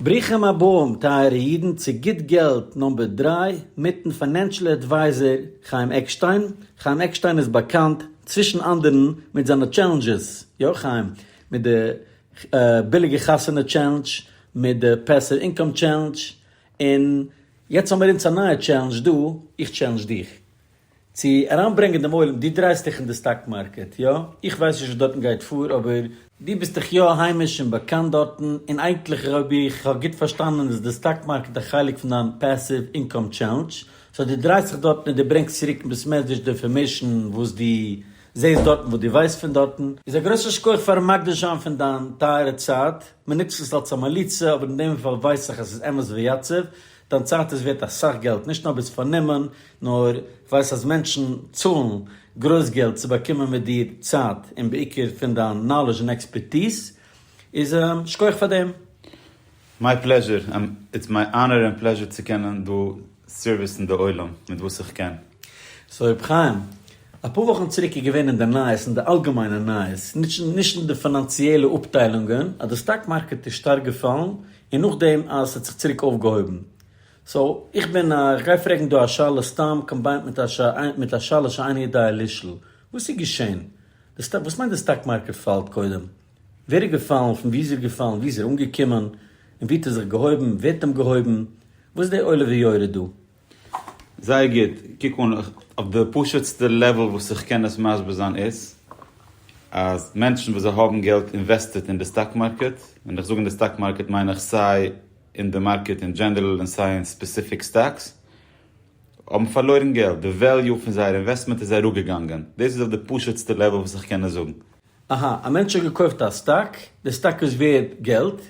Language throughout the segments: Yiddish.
ברוכים הבאים טייערע אידן צו גוט געלט נאמבער דרײַ מיטן פיינענשעל עדווייזער חיים עקשטיין, חיים עקשטיין איז באקאנט צווישן אנדערן מיט זיינע טשעלענדזשעס, יא חיים, מיט די ביליגע חתונה טשעלענדזש, מיט די פעסיוו אינקאם טשעלענדזש, און יעצט האמיר אונז א נייע טשעלענדזש דא, איך טשעלענדזש דיך, צו אריינברענגען דעם עולם, דו דרייסט דיך אין די סטאק מארקעט, יא? איך ווייס נישט וואס דארטן גייט פאר, אבער. דו ביסט דאך יא היימיש און באקאנט דארטן, און אייגנטליך אויב איך האב גוט פארשטאנען איז די סטאק מארקעט א חלק פון דיין פעסיוו אינקאם טשעלענדזש, סאו דו דרייסט דיך דארטן און דו ברענגסט צוריק מיט מערדזש די אינפארמעישן וואס דו זעהסט דארטן, וואס דו ווייסט פון דארטן. איז א גרויסע שכח פארן מקדיש זיין פון דיין טייערע צייט, מען נוצט עס אלס א מליצה, אבער אין דעם פאל ווייס איך אז עס איז אמת ויציב, דיין צייט איז ווערט אסאך געלט, נישט נאר ביסט פארנומען, נאר איך ווייס אז מענטשן צאלן גרויס געלט צו באקומען מיט דיר צייט און בעיקר פון דיין נאלעזש און עקספערטיז, איז שכוח פאר דעם. מיי פלעזשור, איטס מיי אנער און פלעזשור צו קענען דא סערוויסן די עולם מיט וואס איך קען. סאו ר' חיים, אפאר וואכן צוריק איז געווען אין די נייעס, אין די אלגעמיינע נייעס, נישט אין די פינאנציעלע אפטיילונגען, אז די סטאק מארקעט איז שטארק געפאלן, און נאכדעם אז ס'האט זיך צוריק אויפגעהויבן. סאו איך בין א איך גיי פרעגן דא א שאלה סתם קאמביינט מיט א מיט א שאלה שאינה ידועה לשל'. וואס איז געשען? די סטאק וואס מיינט די סטאק מארקעט פאלט קודם? ווער איז געפאלן? פון וואו איז ער געפאלן? וואו איז ער אנגעקומען? און וואו האט ער זיך געהויבן? ווער האט אים געהויבן? וואס איז די עולה ויורד דא? זייער גוט, קוק אן אויף די פשוט'סטע לעוועל וואס איך קען עס מסביר זיין איז אז מענטשן וואס זיי האבן געלט אינוועסטעט אין די סטאק מארקעט, ווען איך זאג אין די סטאק מארקעט מיין איך סיי אין די מארקעט אין דזשענערל און סיי אין ספעסיפיק סטאקס האבן פארלוירן געלט, די וועליו פון זייער אינוועסטמענט איז אראפגעגאנגען, דאס איז אויף די פשוט'סטע לעוועל וואס איך קען עס זאגן. אהא, א מענטש האט געקויפט א סטאק, די סטאק איז ווערד געלט,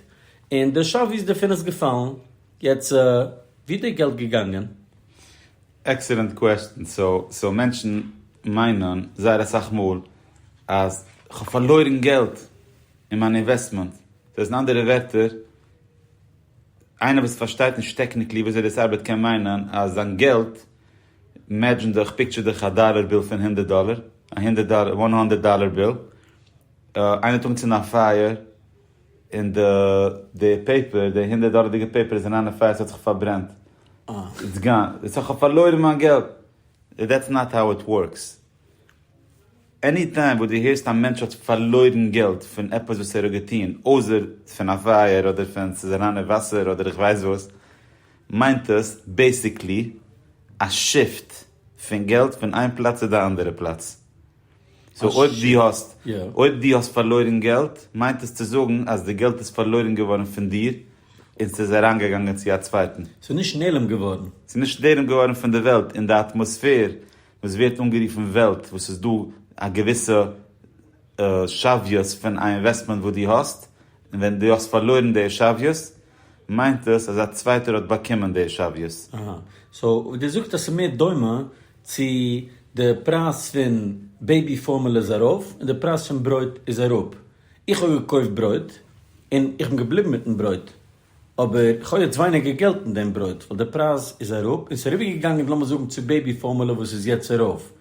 און די שאוויז דערפון איז געפאלן, יעצט ווי איז די געלט געגאנגען? עקסעלענט קוועסטשן, סאו מענטשן מיינען זייער אסאך מאל אז כ'האב פארלוירן געלט אין מיין אינוועסטמענט, דאס איז אין אנדערע ווערטער איינער וואס פארשטייט נישט טעקניקלי וויאזוי דאס ארבעט קען מיינען אז זיין געלט מעדזשען דיך פיקטשער דיך א דאלער ביל פון הונדערט דאלער א הונדערט דאלער וואן האנדערט דאלער ביל איינער האט אנגעצינדן א פייער און די די פעיפער די הונדערט דאלערדיגע פעיפער איז אריין אין פייער ס'האט זיך פארברענט איטס גאן איך האב פארלוירן מיין געלט דעטס נאט האו איט ווארקס. עני טיים וואס דו הערסט א מענטש האט פארלוירן געלט פון עפעס וואס ער האט געטון, אויסער פון א פייער אדער פון ס'איז אריין אין וואסער אדער איך ווייס וואס, מיינט עס בעיסיקלי א שיפט פון געלט פון איין פלאץ צו די אנדערע פלאץ. סאו אויב דו האסט, אויב דו האסט פארלוירן געלט, מיינט עס צו זאגן אז די געלט איז פארלוירן געווארן פון דיר און ס'איז אריין געגאנגען צו א צווייטן. ס'איז נישט נעלם געווארן. ס'איז נישט נעלם געווארן פון די וועלט און די אטמאספער וואס ווערט אנגערופן וועלט וואס איז דא א געוויסע שוויות פון א אינוועסטמענט וואס דו האסט און ווען דו האסט פארלוירן די שוויות מיינט עס אז א צווייטער האט באקומען די שוויות. אהא. סאו דו זאגסט אז ס'איז מער דומה צו די פרייז פון בעיבי פארמעלע איז ארויף און די פרייז פון ברויט איז אראפ. איך האב געקויפט ברויט און איך בין געבליבן מיטן ברויט. אבער כהאב יעצט ווייניגער געלט אין דעם ברויט ווייל די פרייז איז אראפ און סאיז אריבער געגאנגען לאמיר זאגן צו בעיבי פארמולע וואס איז יעצט ארויף.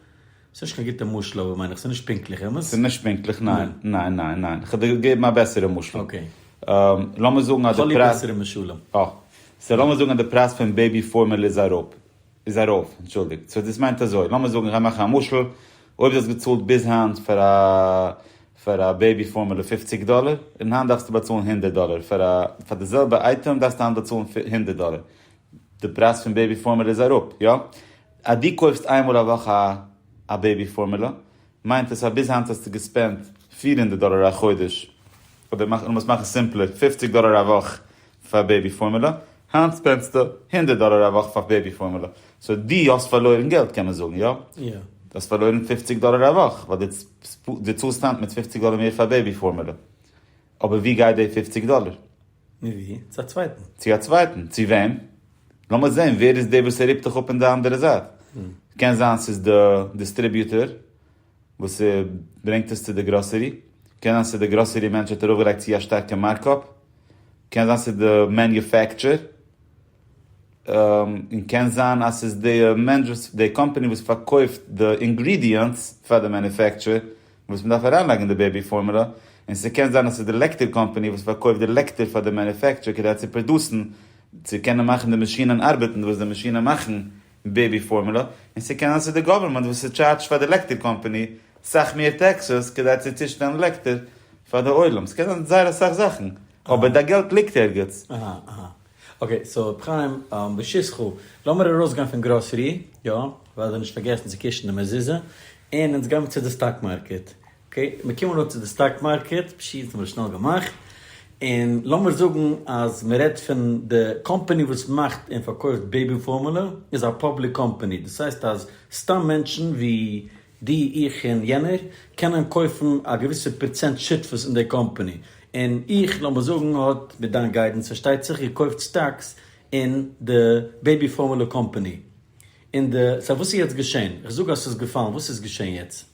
סאיז נישט קיין גוטע משל אבער מיין איך סאיז נישט פונקטליך אמת? סאיז נישט פונקטליך ניין ניין ניין ניין כ'וועל דיר געבן א בעסערע משל. אקעי. לאמיר זאגן אז די פרייז. כ'האב ליב בעסערע משלים. אה. סאו לאמיר זאגן אז די פרייז פון בעיבי פארמולע איז אראפ. איז ארויף, אנטשולדיגט. סאו דאס מיינט אזוי, לאמיר זאגן, איך גיי מאכן א משל, אויב דו האסט געצאלט ביז היינט פאר א פאר א בעיבי פארמולא פופציג דאלער, און היינט דארפסטו באצאלן הונדערט דאלער פאר א פאר די זעלבע אייטעם דארפסטו היינט באצאלן הונדערט דאלער, די פרייז פון בעיבי פארמולא איז אראפ, יא? אז דו קויפסט איין מאל א וואך א א בעיבי פארמולא, מיינט עס אז ביז היינט האסטו געספענדט פֿיר הונדערט דאלער א חודש, אדער לאז מאכן סימפלער, פופציג דאלער א וואך פאר בעיבי פארמולע, היינט ספענדסטו הונדערט דאלער א וואך פאר בעיבי פארמולע, סאו דו האסט פארלוירן געלט קען מען זאגן, יא? יא. דו האסט פארלוירן פופציג דאלער א וואך, ווייל דו צאלסט היינט מיט פופציג דאלער מער פאר בעיבי פארמולע. אבער וואו גייט די פופציג דאלער? מווי? צו א צווייטן. צו א צווייטן? צו וועם? לאמיר זען ווער איז דער וואס ער רופט דיך אפ אין די אנדערע זייט. קען זיין ס'איז די דיסטריביוטער. וואס ברענגט עס צו די גראסערי, קען זיין ס'איז די גראסערי מענטש האט ארויף געלייגט צו א שטארקע מארקאפ, קען זיין ס'איז די מעניופעקטשער, און קען זיין אז ס'איז די מענטש וואס די קאמפאני וואס פארקויפט די אינגרידיענטס פאר די מעניופעקטשער וואס מ'דארף אריינלייגן אין די בעיבי פארמולא, און ס'קען זיין אז ס'איז די לעקטער קאמפאני וואס פארקויפט די לעקטער פאר די מעניופעקטשער כדי צו פראדוסן, צו קענען מאכן די מאשינען ארבעטן וואס די מאשינען מאכן, בעיבי פארמולע, און ס'קען זיין ס'איז די גאווערמענט וואס ס'טשארדזשט פאר די עלעקטער קאמפאני סאך מער טעקסעס כדי צו צושטעלן עלעקטער פאר די עולם, ס'קען זיין זייער אסאך זאכן, אבער די געלט ליגט ערגעץ. אהא אהא אקעי סאו ר' חיים בשישכו לאמיר ארויסגיין פון גראסערי יא, ווייל זיי האבן נישט פארגעסן צו קושן די מזוזה, און אונז גיי מיר צו די סטאק מארקעט, אקעי, מיר קומען אן צו די סטאק מארקעט, פשיטא האבן מיר עס שנעל געמאכט, און לאמיר זאגן אז מען רעדט פון די קאמפאני וואס מאכט און פארקויפט בעיבי פארמולע איז א פאבליק קאמפאני, דאס הייסט אז סתם מענטשן ווי דו, איך און יענער קענען קויפן א געוויסע פראצענט שותפות אין די קאמפאני, און איך לאמיר זאגן האט, מיט דיין גיידענס פארשטייט זיך, געקויפט סטאקס אין די בעיבי פארמולע קאמפאני, און די, סא וואס איז יעצט געשען? איך זאג אז ס'איז געפאלן, וואס איז געשען יעצט?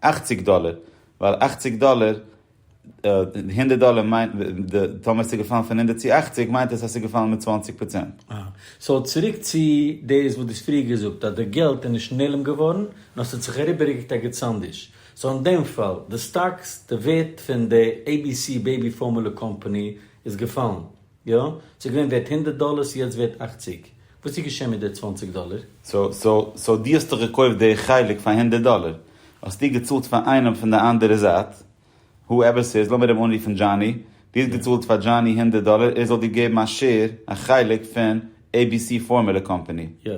אכציג דאלער, ווייל אכציג דאלער, די הונדערט דאלער מיינט, די, טאמער ס'איז געפאלן פון הונדערט צו אכציג מיינט עס אז ס'איז געפאלן מיט צוואנציג פראצענט. אהא. סאו צוריק צו דאס וואס דו האסט פריער געזאגט אז די געלט איז נישט נעלם געווארן, נאר ס'האט זיך אריבערגעקוקט א געצאנדיש. סאו אין דעם פאל, די סטאקס, די ווערט פון די abc baby formula קאמפאני איז געפאלן. יא, ס'איז געווען ווערט הונדערט דאלער, ס'איז יעצט ווערט אכציג. וואס איז געשען מיט די צוואנציג דאלער? סאו דו האסט דאך געקויפט די חלק פאר הונדערט דאלער, האסטו געצאלט פאר איינעם פון די אנדערע זייט, הו עווער ס'איז, לאמיר אים אנרופן דזשאני, דו האסט געצאלט פאר דזשאני הונדערט דאלער ער זאל דיר געבן א שעיר, א חלק פון עי בי סי פארמולע קאמפאני. יא.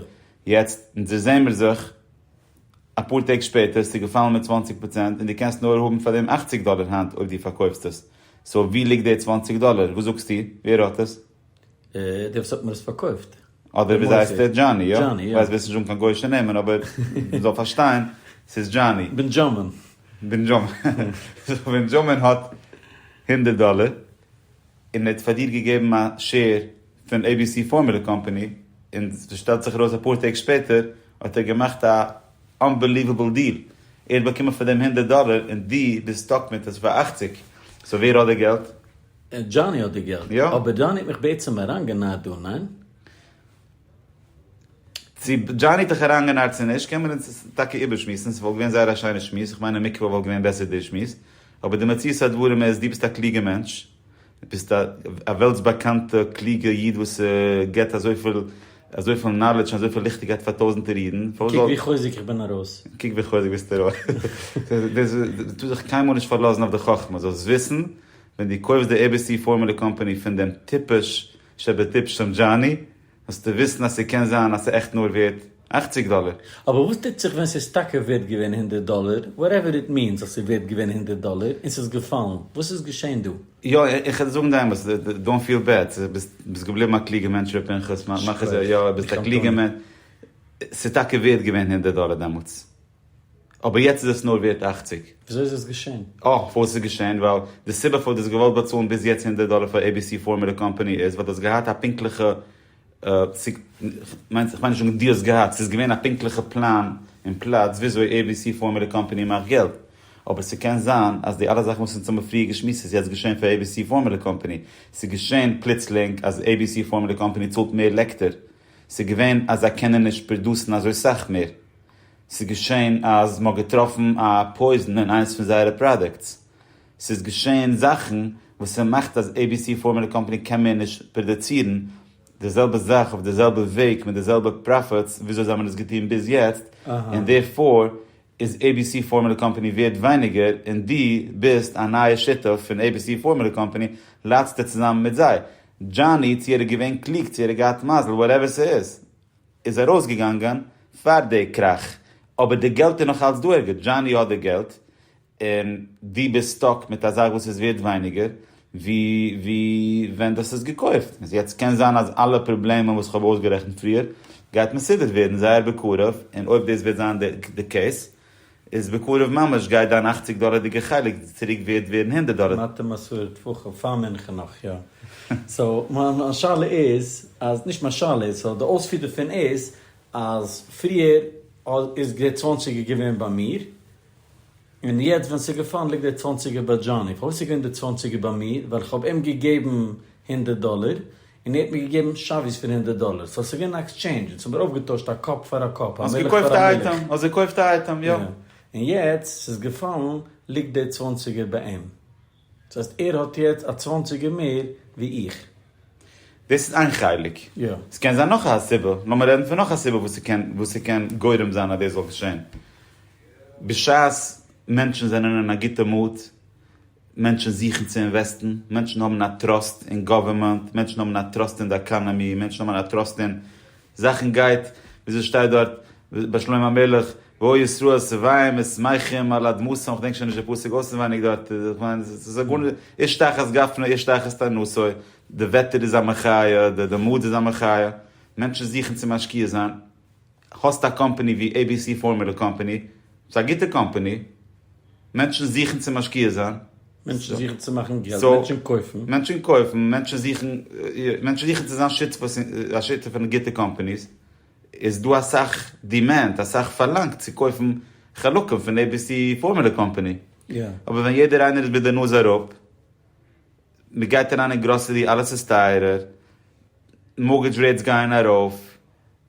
יעצט זעמיר זיך. אפאר טעג שפעטער איז צוגעפאלן מיט צוואַנציק פראצענט און דו קענסט נאר האבן פאר דעם אַכציק דאלער היינט אויב דו פארקויפסט עס, סאו ווי ליגט די צוואַנציק דאלער? וואס זאגסטו? ווער האט עס? דער וואס האט מיר עס פארקויפט. אדער וויאזוי הייסט ער? דזשאני, יא? דזשאני, יא. כ'ווייס וועסט נישט זאגן קיין גוישע נעמען אבער מ'זאל פארשטיין ס'איז דזשאני. בענדזשאמין. בענדזשאמין. בענדזשאמין האט הונדערט דאלער. און ער האט פאר דיר געגעבן א שעיר פון עי בי סי פארמולע קאמפאני, און שטעלט זיך ארויס אפאר טעג שפעטער האט ער געמאכט א אנבעליוועבל דיל, ער האט באקומען פאר דעם הונדערט דאלער און דו ביסט סטאק מיט עס פאר אַכציק, סאו ווער האט די געלט? דזשאני האט די געלט. יא. אבער דזשאני האט מיך בעצם אריינגענייט דא, ניין? צו דזשאני האט דיך אריינגענארט צו נישט קען מען אונז טאקע איבערשמועסן, ס'וואלט געווען זייער א שיינע שמועס, איך מיין אין מקווה וואלט געווען בעסער די שמועס, אבער די מציאות הדברים איז דו ביסט א קלוגע מענטש, דו ביסט א וועלטס באקאנטע קלוגע איד וואס גיבט אזויפיל אזויפיל נאלעדזש און אזויפיל ליכטיגקייט פאר טויזענטער אידן, פארוואס זאל. קוק ווי חוזק איך בין ארויס. קוק ווי חוזק ביסטו ארויס. טו זיך קיינמאל נישט פארלאזן אויף די חכמה, זאלסט וויסן ווען דו קויפסט די עי בי סי פארמולע קאמפאני פון דעם טיפש, שבטיפשום דזשאני, האסטו וויסן אז ס'קען זיין אז ס'עכט נאר ווערט אכציג דאלער? אבער וואס טוט זיך ווען ס'איז טאקע ווערט געווען הונדערט דאלער, וואטעווער איט מינס אז ס'איז ווערט געווען הונדערט דאלער, און ס'איז געפאלן, וואס איז געשען דא? יא, איך וועל זאגן די אמת, דאונט פיל בעד, ביסט געבליבן א קלוגע מענטש ר' פנחס, מאך עס, יא, ביסט א קלוגע מענטש, ס'איז טאקע ווערט געווען הונדערט דאלער דעמאלטס. אבער יעצט איז עס נאר ווערט אַכציק. וויאזוי איז עס געשען? אה, פארוואס ס'איז געשען? ווייל די סיבה פארוואס דו האסט געוואלט באצאלן ביז יעצט הונדערט דאלער פאר עי-בי-סי פארמעלע קאמפאני איז ווייל דו האסט געהאט א פונקטליכע, כ'מיין נישט אונבדינגט דו האסט געהאט, ס'איז געווען א פונקטליכע פלאן און פלאץ וויאזוי עי-בי-סי פארמעלע קאמפאני מאכט געלט. אבער ס'קען זיין אז די אלע זאכן וואס אונז האבן פריער געשמועסט איז יעצט געשען פאר עי-בי-סי פארמעלע קאמפאני. ס'איז געשען פלוצלינג אז עי-בי-סי פארמעלע קאמפאני צאלט מער לעקטער. ס'איז געווען אז זיי קענען נישט פראדוסן אזוי סאך מער. ס'איז געשען אז מ'האט געטראפן א פויזן אין איינס פון זייערע פראדוקטס. ס'איז געשען זאכן וואס ס'מאכט אז עי בי סי פארמולע קאמפאני קען מער נישט פראדוצירן די זעלבע זאך אויף די זעלבע וועג מיט די זעלבע פראפיטס וויאזוי זיי האבן עס געטון ביז יעצט, און דערפאר איז עי בי סי פארמולע קאמפאני ווערד ווייניגער און דו ביסט א נייע שותף פון עי בי סי פארמולע קאמפאני ליידסטו צוזאמען מיט זיי. דזשאני, צו ער איז געווען קלוג, צו ער האט געהאט מזל, וואטעווער ס'איז. איז ארויסגעגאנגען פאר די קראך, אבער די געלט איז נאך אלץ דא ערגעץ, דזשאני האט די געלט, און דו ביסט סטאק מיט א זאך וואס איז ווערט ווייניגער ווי ווי ווען דו האסט עס געקויפט, איז יעצט קען זיין אז אלע פראבלעמען וואס כ'האב אויסגערעכנט פריער גייט מסודר ווערן זייער בקרוב, און אויב דאס וועט זיין די קעיס איז בקרוב ממש גייט דיין אכציג דאלערדיגע חלק צוריק ווערד ווערן הונדערט דאלער. מתי מסור טפחים? פאר מנחה נאך יא. סאו מיין שאלה איז אז, נישט מיין שאלה איז, סאו די אויספיר דערפון איז אז פריער איז דער צוואנציגער געווען ביי מיר און יעצט ווען ס'איז געפאלן ליגט דער צוואנציגער ביי דזשאני. פארוואס איז געווען דער צוואנציגער ביי מיר? ווייל כ'האב אים געגעבן הונדערט דאלער און ער האט מיר געגעבן שווי'ס פון הונדערט דאלער, סאו ס'איז געווען א עקסטשעינדזש, אונז האבן מיר אויפגעטוישט א קאפ פאר א קאפ, א מילך פאר א מילך. האסט געקויפט א אייטעם, יא. יא. און יעצט ס'איז געפאלן ליגט די צוואנציגער ביי אים. דאס הייסט ער האט יעצט א צוואנציגער מער ווי איך. דאס איז איין חלק. יא. ס'קען זיין נאך א סיבה, לאמיר רעדן פון נאך א סיבה וואס ס'קען גורם זיין אז דאס זאל געשען. בשעת מענטשן זענען אין א גוטע מוד. מענטשן זוכן צו אינוועסטן, מענטשן האבן א טראסט אין גאווערמענט, מענטשן האבן א טראסט אין די עקאנאמי, מענטשן האבן א טראסט אין זאכן גייט, וויאזוי שטייט דארט ביי שלמה המלך, ואוי ישראל שבעים ושמחים על אדמתם, כ'דענק שוין נישט די פסוק אויסענווייניג דארט, כ'מיין ס'איז א גאר, איש תחת גפנו איש תחת ענותו, די וועטער איז א מחיה, די מד איז א מחיה, מענטשן זוכן צו משקיע זיין. האסט א קאמפעני ווי עי בי סי פארמולע קאמפעני, ס'איז א גוטע קאמפעני, מענטשן זוכן צו משקיע זיין, מענטשן זוכן צו מאכן געלט, מענטשן קויפן. מענטשן קויפן, מענטשן זוכן, מענטשן זוכן צו זיין שותפות אין, א שותף אין גוטע קאמפעניס, איז דא אסאך דימענד, אסאך פארלאנג צו קויפן חלקים פון עי בי סי פארמולע קאמפעני, אבער ווען יעדער איינער איז מיט די נאז אראפ, מ'גייט אריין אין גראסערי אלעס איז טייערער, מארגעדזש רעיטס גייען ארויף,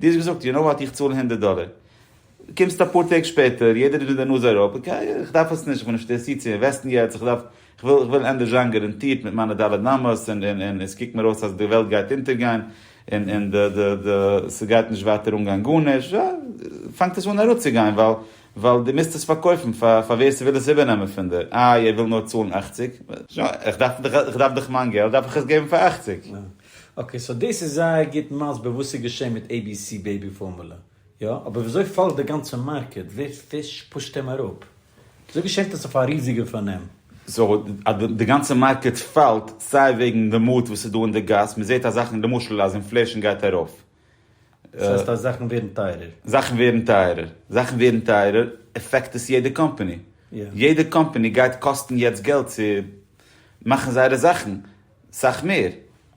דו האסט געזאגט, יו נאו וואט, איך צאל הונדערט דאלער. קומסט אפאר טעג שפעטער, יעדער איז מיט די נאז אראפ, אקעי, איך דארף עס נישט, איך בין נישט אינטערעסירט צו אינוועסטן יעצט, איך דארף, איך וויל, איך וויל ענדערש זיין גאראנטירט מיט מיינע ד' אמות, און, און, און, און עס קוקט מיר אויס אז די וועלט גייט אונטערגיין, און, און די, די, די, ס'גייט נישט ווייטער אנגיין גארנישט, יא, פאנגט עס אן אראפצוגיין, ווייל, ווייל דו מוזט עס פארקויפן פאר, פאר ווער ס'וויל עס איבערנעמען פון דיר, איי, ער וויל נאר צאלן אכציג? איך דארף דאך, איך דארף דאך מיין געלט, דארף איך עס געבן פאר אכציג. אקעי סאו דאס איז זייער גוט מסביר וואס איז געשען מיט עי בי סי בעיבי פארמולע, יא? אבער וויאזוי פאלגט די גאנצע מארקעט? ווער פיש פושט אים אראפ? וויאזוי געשעהט עס אויף א ריזיגע פארנעם? סאו אז די גאנצע מארקעט פאלט סיי וועגן די מאד וואס איז דא אין די גאס, מען זעהט אז זאכן למשל אז אינפלעישן גייט ארויף, דאס הייסט אז זאכן ווערן טייערער? זאכן ווערן טייערער, זאכן ווערן טייערער עפעקט עס יעדע קאמפאני, יעדע קאמפאני גייט קאסטן יעצט געלט צו מאכן זייערע זאכן סאך מער,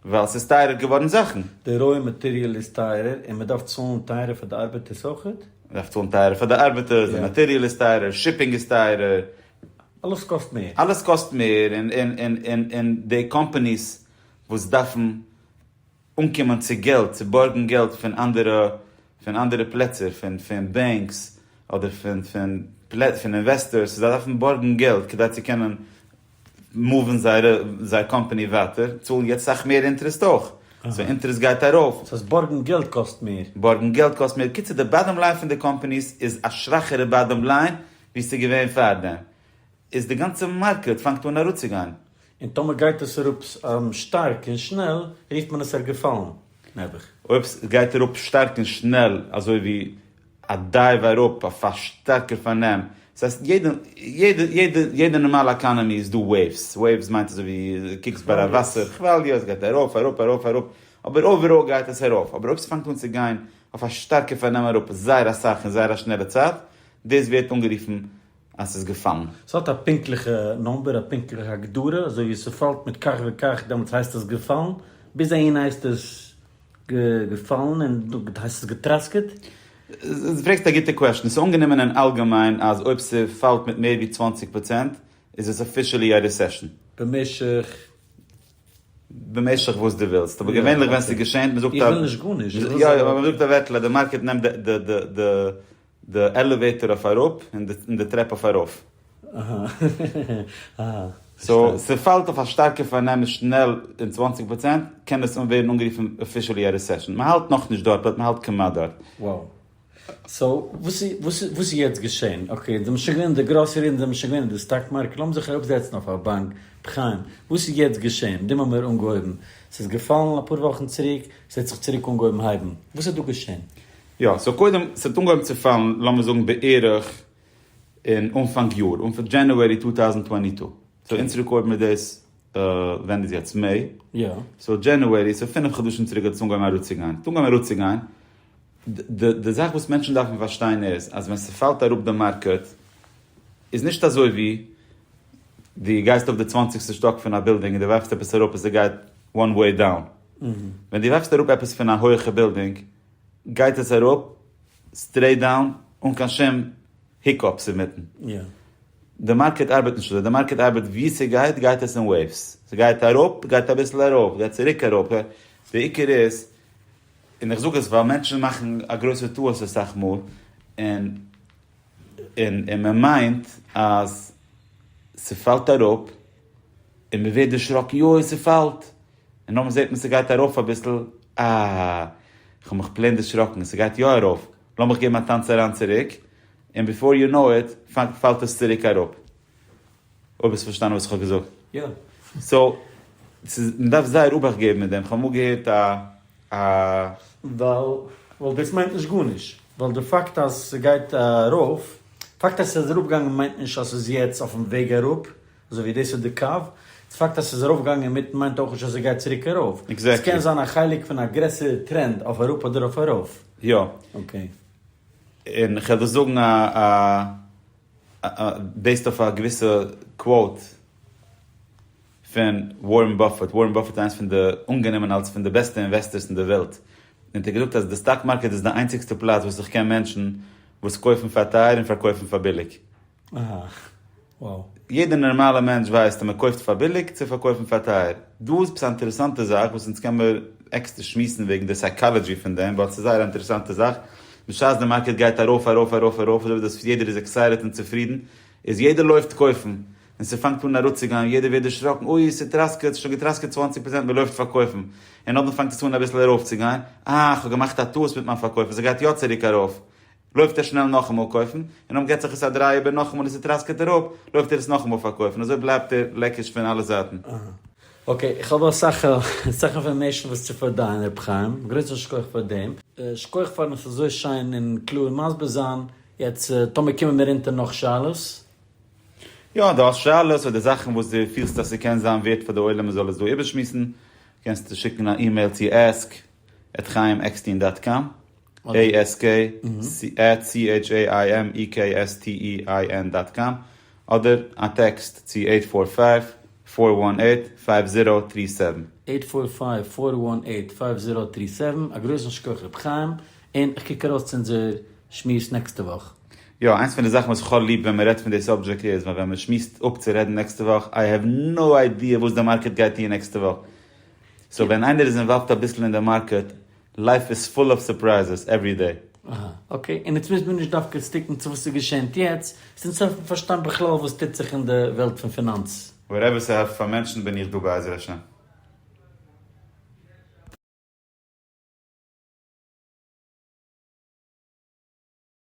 ווייל ס'איז טייערער געווארן זאכן. די רוי מאטעריאל איז טייערער און מ'דארף צאלן טייערער פאר די ארבעטערס אויכעט? מ'דארף צאלן טייערער פאר די ארבעטערס, די מאטעריאל איז טייערער, שיפינג איז טייערער, אלעס קאסט מער, אלעס קאסט מער, און די קאמפאניס וואס דארפן אנקומען צו געלט, צו בארגן געלט פון אנדערע, פון אנדערע פלעצער, פון, פון בענקס, אדער פון, פון, פון אינוועסטארס, זיי דארפן בארגן געלט כדי צו קענען מאוון זייערע, זייער קאמפאני ווייטער, צאלן יעצט סאך מער אינטערעסט אויך, סאו אינטערעסט גייט ארויף. ס'הייסט בארגן געלט קאסט מער. בארגן געלט קאסט מער, קיצור די באדאם ליין פון די קאמפאניס איז א שוואכערע באדאם ליין ווי ס'איז געווען פארדעם, איז די גאנצע מארקעט פאנגט אן אראפצוגיין. און טאמער גייט עס אראפ שטארק און שנעל רופט מען עס ער געפאלן, נעבעך. אויב עס גייט אראפ שטארק און שנעל אזוי ווי א דייוו אראפ אויף א שטארקער פארנעם, דאס הייסט יעדע יעדע יעדע יעדע נארמאלע עקאנעמי איז דא וועיווס, וועיווס מיינט אזוי ווי דו קוקסט ביי א וואסער כוואליע עס גייט ארויף אראפ ארויף אראפ, אבער אויבעראל גייט עס ארויף, אבער אויב עס פאנגט אן צו גיין אויף א שטארקע פארנעם אראפ זייער אסאך אין זייער א שנעלע צייט, דאס ווערט אנגערופן אז ס'איז געפאלן. ס'האט א פונקטליכע נאמבער, א פונקטליכע הגדרה, אזוי ווי ס'פאלט מיט כך וכך דעמאלטס הייסט עס געפאלן, ביז אהין הייסט עס געפאלן און דא הייסט עס געטראסקעט. דו פרעגסט א גוטע קוועשאן. ס'איז אנגענומען אין אלגעמיין אז אויב ס'פאלט מיט מער ווי צוואַנציק פראצענט איז עס אפישעלי א רעסעשאן. במשך? במשך וואס דו ווילסט, אבער געווענליך ווען ס'געשענט, מ'זאגט א. איך וויל נישט גארנישט. יא יא, אבער מ'זאגט א ווערטל אז די מארקעט נעמט די די עלעוועיטאר אויף אראפ און די טרעפ אויף ארויף. אהא אהא פארשטאנען. סאו ס'פאלט אויף א שטארקע פארנעם שנעל און צוואַנציק פראצענט קען עס ווערן אנגערופן אפישעלי א רעסעשן. מ'האלט נאכנישט דארט באט מ'האלט כמעט דארט. וואו. סאו וואס איז וואס איז יעצט געשען? אקעי די מ'שוין געווען אין די גראסערי און די מ'שוין געווען אין די סטאק מארקעט לאמיר זיך אראפ זעצן אויף א באנק בחנם וואס איז יעצט געשען? דעם האמיר אנגעהויבן ס'איז געפאלן אפאר וואכן צוריק ס'העט זיך צוריק אנגעהויבן הייבן וואס האט דא געשען? יא, סאו קודם, ס'האט אנגעהויבן צו פאלן לאמיר זאגן בערך אין אנפאנג יאר, אנפ דזשענעווערי טו טאוזענד טווענטי טו, סאו אונז רעקארדן מיר דאס, ווען איז יעצט? מעי? יא. סאו דזשענעווערי, סאו פינף חדשים צוריק האט עס אנגעהויבן אראפצוגיין, ס'האט אנגעהויבן אראפצוגיין, די זאך וואס מענטשן דארפן פארשטיין איז אז ווען ס'פאלט אראפ די מארקעט איז נישט אזוי ווי דו גייסט אויף די צוואנציגסטע שטאק פון א בילדינג און דו ווארפסט עפעס אראפ און ס'גייט וואן וועי דאון, ווען דו ווארפסט אראפ עפעס פון א הויעכע בילדינג, גייט עס אראפ סטרעיט דאון אן קיין שום היקאפס אינמיטן. די מארקעט ארבעט נישט אזוי, די מארקעט ארבעט ווי ס'גייט גייט עס אין וועיווס, ס'גייט אראפ גייט אביסל ארויף גייט צוריק אראפ, די עיקר איז, און איך זאג עס ווייל מענטשן מאכן א גרויסע טעות אסאך מאל, און און און מען מיינט אז ס'פאלט אראפ און מען ווערט דערשראקן יוי ס'פאלט. און נאכדעם זעט מען ס'גייט ארויף אביסל, אה, כ'האב מיך פלעין דערשראקן, ס'גייט יא ארויף, לאמיך געבן א טאנץ אריין צוריק, און ביפאר יו נאו איט פאלט עס צוריק אראפ. אויב האסט פארשטאנען וואס כ'האב געזאגט. יא. סאו, ס'איז, מ'דארף זייער אבאכט געבן מיט דעם, כ'האב אמאל געהערט א א. ווייל, ווייל דאס מיינט נישט גארנישט, ווייל די פאקט אז ס'גייט ארויף, פאקט אז ס'איז אראפגעגאנגען מיינט נישט אז ס'איז יעצט אויפן וועג אראפ. אזוי ווי דאס איז די קו. די פאקט אז ס'איז ארויפגעגאנגען אינמיטן מיינט אויך נישט אז עס גייט צוריק ארויף. עס קען זיין א חלק פון א גרעסערע טרענד אויף אראפ אדער אויף ארויף. יא. אקעי. און איך וועל דאס זאגן בעיסד אויף א געוויסע קוואוט פון ווארען באפעט. ווארען באפעט איז איינס פון די, אנגענומען אלס פון די בעסטע אינוועסטערס אין די וועלט. און ער האט געזאגט אז די סטאק מארקעט איז די איינציגסטע פלאץ וואס איך קען מענטשן וואס קויפן פאר טייער און פארקויפן פאר ביליג. אההה wow. יעדער נארמאלער מענטש ווייסט אז מען קויפט פאר ביליג צו פארקויפן פאר טייער. דא איז עפעס א אינטערעסאנטע זאך וואס אונז קען מיר עקסטער שמועסן וועגן די סייקאלעדזשי פון דעם ווייל עס איז זייער א אינטערעסאנטע זאך בשעת די מארקעט גייט ארויף ארויף ארויף ארויף אזוי ווי דאס יעדער איז עקסייטעד און צופרידן איז יעדער לויפט קויפן און ס'פאנגט אן אראפצוגיין יעדער ווערט דערשראקן אוי ס'טראסקעט ס'שוין געטראסקעט צוואַנציק פראצענט מען לויפט פארקויפן און נאכדעם פאנגט עס אן אביסל ארויפצוגיין אה כ'האב געמאכט א טעות מיט מיין פארקויף און ס'גייט יא צוריק ארויף לויפט ער שנעל נאכאמאל קויפן, און אויב געט זיך עס א דריי איבער נאכאמאל און ס'טראסקעט אראפ, לויפט ער עס נאכאמאל פארקויפן, אזוי בלייבט ער לעקיש פון אלע זייטן. אקעי, איך האב אסאך אסאך אינפארמעישן וואס צו פארדייען ר' חיים, גרויסן שכח פאר דעם. שכוח פארן עס אזוי שיין און קלאר מסביר זיין, יעצט טאמער קומען מיר אונטער נאך שאלות. יא, דו האסט שאלות אדער זאכן וואס דו פילסט אז ס'קען זיין ווערד פאר די עולם מען זאל עס דא איבערשמועסן, קענסטו שיקן א אימעיל צו ask עט חיים עקסטין דאט קאם. ASKCHAIMEKSTEIN דאט קאם, אדער א טעקסט צו עיט פאר פייוו, פאר וואן עיט, פייוו זירא, טרי סעווען. עיט פאר פייוו, פאר וואן עיט, פייוו זירא, טרי סעווען. א גרויסן שכח ר' חיים, און איך קוק ארויס צו אונזער שמועס נעקסטע וואך. יא, איינס פון די זאכן וואס איך האב ליב ווען מען רעדט פון די סאבדזשעקט איז ווען ווען מען שמועסט אפ צו רעדן נעקסטע וואך, איי העוו נאו איידיע וואס די מארקעט גייט טון נעקסטע וואך. סאו ווען איינער איז אינוואלווד אביסל אין די מארקעט לייף איז פול אוו סורפרייזעס עווערי דעי. אהא אקעי, און עטס מוזט מיר נישט דווקא סטיקן צו וואס ס'איז געשענט יעצט, ס'אונז העלפן פארשטיין בכלל וואס טוט זיך אין די וועלט פון פינאנץ. וואטעווער ס'העלפט פאר מענטשן בין איך דא בעזר השם.